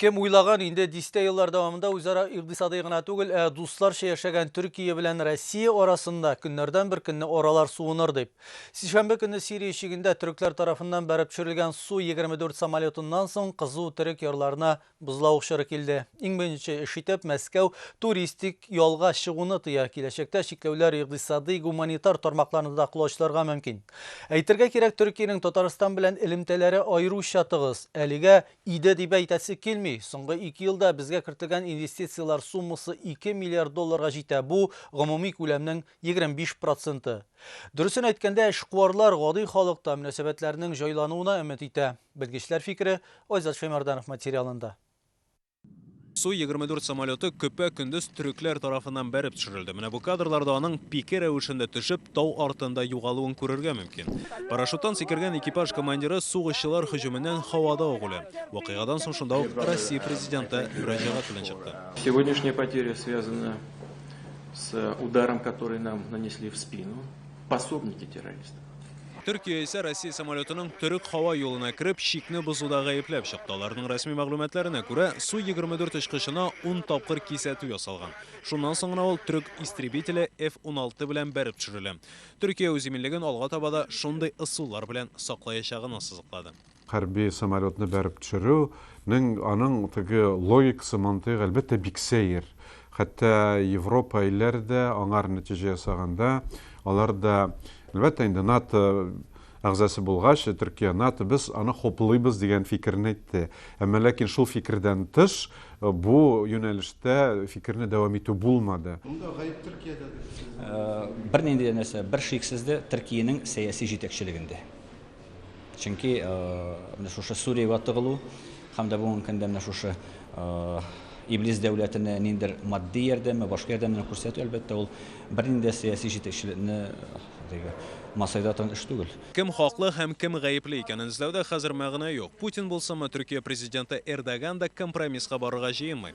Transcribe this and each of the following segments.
Кем уйлаган инде дистә еллар дәвамында үзара икътисади гына түгел, ә дусларча яшәгән Төркия белән Россия арасында көннәрдән бер көнне аралар суыныр дип. Сишәмбе көнне Сирия чигендә төрекләр тарафыннан бәреп төшерелгән Су-24 самолетыннан соң кызу төрек ярларына Бозлавык чоры килде. Иң беренче эш итеп, Мәскәү туристик ялга чыгуны тыя. Киләчәктә чикләүләр икъдисади, гуманитар тармакларны да колачларга мөмкин. Әйтергә кирәк, Төркиянең Татарстан белән элемтәләре аеруча тыгыз. Әлегә иде дип әйтәсе килми. Соңгы ике елда безгә кертелгән инвестицияләр суммасы ике миллиард долларга җитә, бу, гомуми күләмнең 25 проценты. Дөресен әйткәндә, эшкуарлар гади халыкта мөнәсәбәтләрнең җайлануына өмет итә. Белгечләр фикере Айзат Шәймәрданов материалында. Су-24 самолеты көпә-көндез төрекләр тарафыннан бәреп төшерелде. Менә бу кадрларда аның пике рәвешендә төшеп, тау артында югалуын күрергә мөмкин. Парашюттан сикергән экипаж командиры сугышчылар һөҗүменнән һавада ук үлә. Вакыйгадан соң шунда ук Россия Президенты мөрәҗәгать белән чыкты. Сегодняшние потери связаны Төркия исә Россия самолетының төрек һава юлына кереп, чикне бозуда гаепләп чыкты. Аларның рәсми мәгълүматларына күрә, Су-24 очкычына ун тапкыр кисәтү ясалган. Шуннан соң гына ул төрек истребителе F-16 белән бәреп төшерелә. Төркия үз иминлеген алга таба да шундый ысуллар белән саклаячагын ассызыклады. Хәрби самолетны бәреп төшерү нең аның теге логикасы, мантыйгы, әлбәттә, бик сәер. Хәтта Европа илләре дә аңар нәтиҗә ясаганда, алар да, әлбәттә, инде НАТО әгъзасы булгач, Төркия, НАТО, без аны хуплыйбыз дигән фикерен әйтте. Әмма ләкин шул фикердән тыш бу юнәлештә фикерне дәвам итү булмады. Монда гаеп Төркиядә дип сез. Бернинди дә нәрсә, бершиксез дә Төркиянең сәяси җитәкчелегендә. Чөнки менә шушы Сүриягә тыгылу һәм дә бүгенге көндә менә шушы Иблис дәүләтенә ниндер матди ярдәме, башка ярдәмне күрсәтү, әлбәттә, ул бернинди сәяси җитәкчелекне масайда торган эш түгел. Кем хаклы һәм кем гаепле икәнен эзләүдә хәзер мәгънә юк. Путин булсынмы, Төркия президенты Эрдоган да компромисска барырга җыенмый.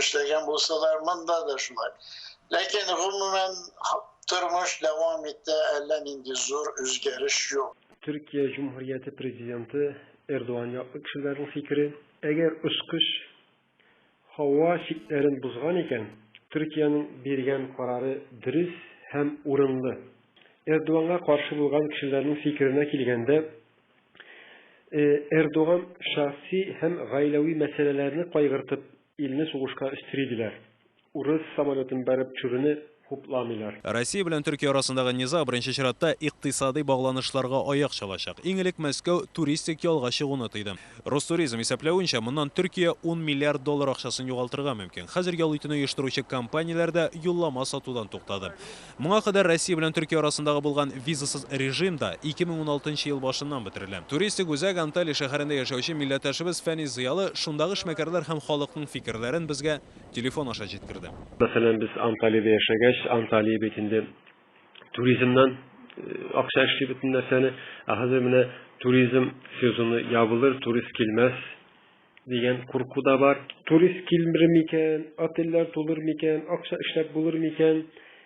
эшләгән булсалар, монда да шулай. Ләкин гомумән тормыш дәвам итә, әллә нинди зур үзгәреш юк. Төркия Җөмһүрияте президенты Эрдоган яклы кешеләрнең фикере, әгәр очкыч һава чикләрен бозган икән, Төркиянең биргән карары дөрес һәм урынлы. Эрдоганга каршы булган кешеләрнең фикеренә килгәндә, Эрдоган шәхси һәм гаиләви мәсьәләләрне кайгыртып, илне сугышка өстери, диләр. Урыс самолетын бәреп төшерүне хупламыйлар. Россия белән Төркия арасындагы низаг беренче чиратта икътисадый багланышларга аяк чалачак. Иң элек Мәскәү туристик ялга чыгуны тыйды. Ростуризм исәпләвенчә, моннан Төркия ун миллиард доллар акчасын югалтырга мөмкин. Хәзер ял итүне оештыручы компанияләр дә юллама сатудан туктады. Моңа кадәр Россия белән Төркия арасындагы булган визасыз режим да 2016 нчы ел башыннан бетерелә. Туристик үзәк Анталия шәһәрендә яшәүче милләттәшебез Фәнис Зыялы шундагы эшмәкәрләр һәм халыкның фикерләрен безгә телефон аша җиткерде. Мәсәлән, без Анталиядә яшәгәч, Анталия бит инде туризмнан акча эшли бөтен нәрсәне, ә хәзер менә туризм сезоны ябылыр, турист килмәс. дигән курку да бар. Турист килмер микән, отельләр тулыр микән, акча эшләп булыр микән,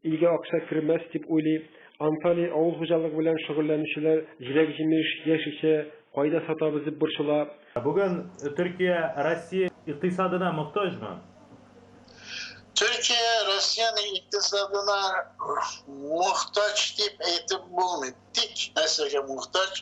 илгә акча кермәс дип уйлый. Анталия авыл хуҗалыгы белән шөгыльләнүчеләр җиләк-җимеш, яшелчә кайда сатабыз дип борчыла. Бүген Төркия Россия икътисадына мохтаҗмы? Төркия Россиянең икътисадына мохтаҗ дип әйтеп булмый. Тик нәрсәгә мохтаҗ?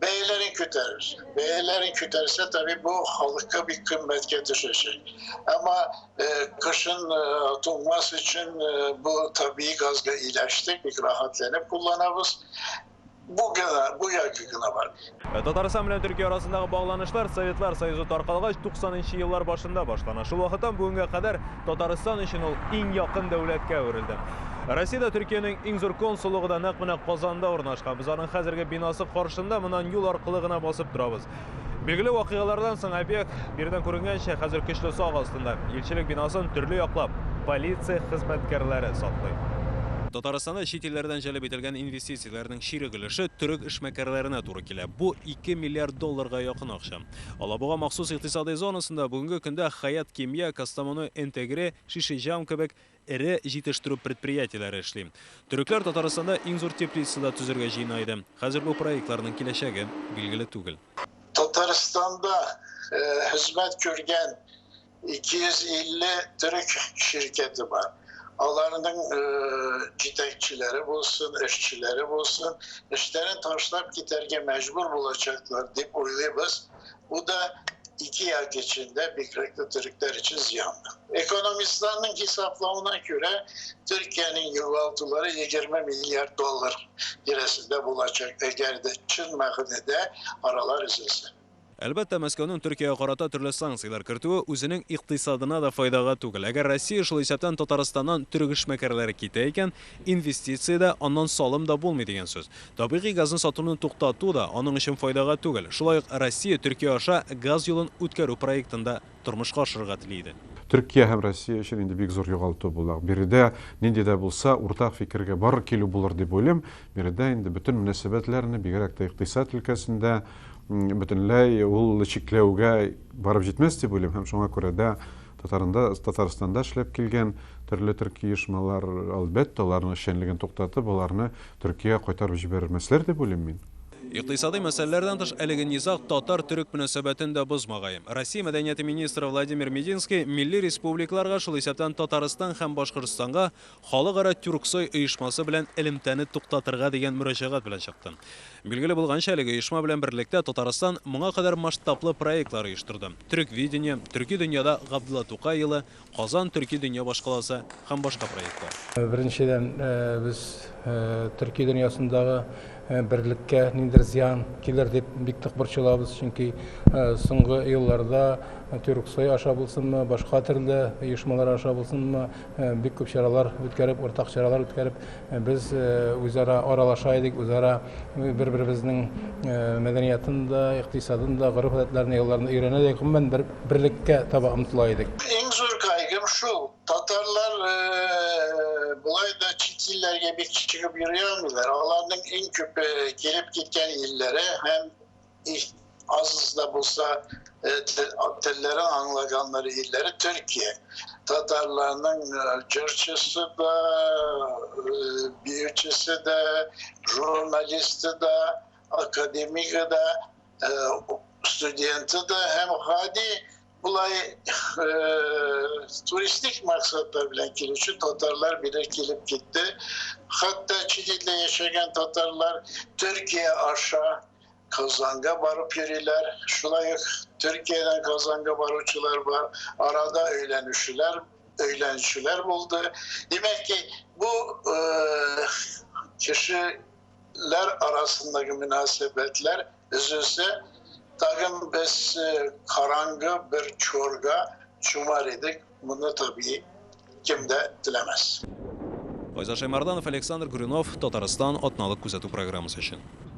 бәяләрен күтәрер. Бәяләрен күтәрсә, таби бу халыкка бик кыйммәткә төшәчәк. Әмма э, кышын э, туңмас өчен э, бу таби газга иләштек, бик рәхәтләнеп кулланабыз. Бу гына, бу яки гына бар. Э, Татарстан белән Төркия арасындагы багланышлар Советлар Союзы таркалгач 90 нчы еллар башында башлана. Шул вакыттан бүгенгә кадәр Татарстан өчен ул иң якын дәүләткә әверелде. Россиядә Төркиянең иң зур консуллыгы да нәкъ менә Казанда урнашкан. Без аның хәзерге бинасы каршында моннан юл аркылы гына басып торабыз. Билгеле вакыйгалардан соң объект, биредән күренгәнчә, хәзер көчле сак астында. Илчелек бинасын төрле яклап полиция хезмәткәрләре саклый. Татарстанда чит илләрдән җәлеп ителгән инвестицияләрнең чирек өлеше төрек эшмәкәрләренә туры килә. Бу ике миллиард долларга якын акча. Алабуга махсус икътисадый зонасында бүгенге көндә Хәят Кимия, Кастамону Энтегре, Шишиҗам кебек эре җитештерү предприятиеләре эшли. Төрекләр Татарстанда иң зур теплица да төзергә җыена иде. Хәзер бу проектларның киләчәге билгеле түгел. Татарстанда хезмәт күргән 250 төрек şirketi бар. Аларның җитәкчеләре булсын, эшчеләре булсын, эшләрен ташлап китәргә мәҗбүр булачаклар дип уйлыйбыз. Бу да ике як өчен дә, бигрәк тә төрекләр өчен зыян. Экономистларның хисаплавына күрә, Төркиянең югалтулары 20 миллиард доллар тирәсендә булачак, әгәр дә чын мәгънәдә аралар өзелсә. Әлбәттә, Мәскәүнең Төркиягә карата төрле санкцияләр кертүе үзенең икътисадына да файдага түгел. Әгәр Россия, шул исәптән Татарстаннан төрек эшмәкәрләре китә икән, инвестиция дә, аннан салым да булмый дигән сүз. Табигый газны сатуны туктату да аның өчен файдага түгел. Шулай ук Россия Төркия аша газ юлын үткәрү проектын да. тормышка ашырырга тели иде. Төркия һәм Россия өчен инде бик зур югалту була. Биредә нинди дә булса уртак фикергә барыр килү булыр дип уйлыйм. Биредә инде бөтен мөнәсәбәтләрне, бигрәк тә икътисад өлкәсендә бөтенләй ул чикләүгә барып җитмәс дип уйлыйм һәм шуңа күрә дә Татарында, Татарстанда эшләп килгән төрле төрки оешмалар, әлбәттә, аларның эшчәнлеген туктатып, аларны Төркиягә кайтарып җибәрмәсләр дип уйлыйм мин. Икътисадый мәсьәләләрдән тыш, әлеге низаг татар-төрек мөнәсәбәтен дә бозмагаем. Россия мәдәнияте министры Владимир Мединский милли республикаларга, шул исәптән Татарстан һәм Башкортстанга Халыкара тюрксой оешмасы белән элемтәне туктатырга дигән мөрәҗәгать белән чыкты. Билгеле булганча, әлеге оешма белән берлектә Татарстан моңа кадәр масштаблы проектлар оештырды. Төреквидение, Төрки дөньяда Габдулла Тукай елы, Казан, төрки дөнья башкаласы һәм башка проектлар. Беренчедән, без төрки дөньясындагы берлеккә ниндидер зыян килер дип бик тык борчылабыз, чөнки соңгы елларда Тюрксой аша булсынмы, башка төрле оешмалар аша булсынмы, бик күп чаралар үткәреп, уртак чаралар үткәреп, без үзара аралаша идек, үзара бер-беребезнең мәдәниятын да, икътисадын да, гореф-гадәтләрен, йолаларын өйрәнә идек. Гомумән, бер. берлеккә таба омтыла идек. Иң зур кайгым шул, татарлар болай да чит илләргә бик чыгып йөри алмыйлар. Аларның иң күп килеп киткән илләре һәм аз да булса телләрен аңлаганнар илләре Төркия. Татарларның җырчысы да, биючесе дә, журналисты да, академигы да студенты да һәм гади болай туристик максатлар белән килүче татарлар бирә килеп китте. Хәтта Чилидә яшәгән татарлар Төркия аша Казанга барып йөриләр. Шулай ук Төркиядән Казанга баручылар бар. Арада өйләнүчеләр, өйләнүчеләр булды. Димәк ки, бу кеше милләтләр арасындагы мөнәсәбәтләр өзелсә, тагын без э, караңгы бер чорга чумар идек. Моны табии кем дә теләмәс. Файза Шаймарданов, Александр Гуринов, Татарстан атналык күзәтү программасы өчен.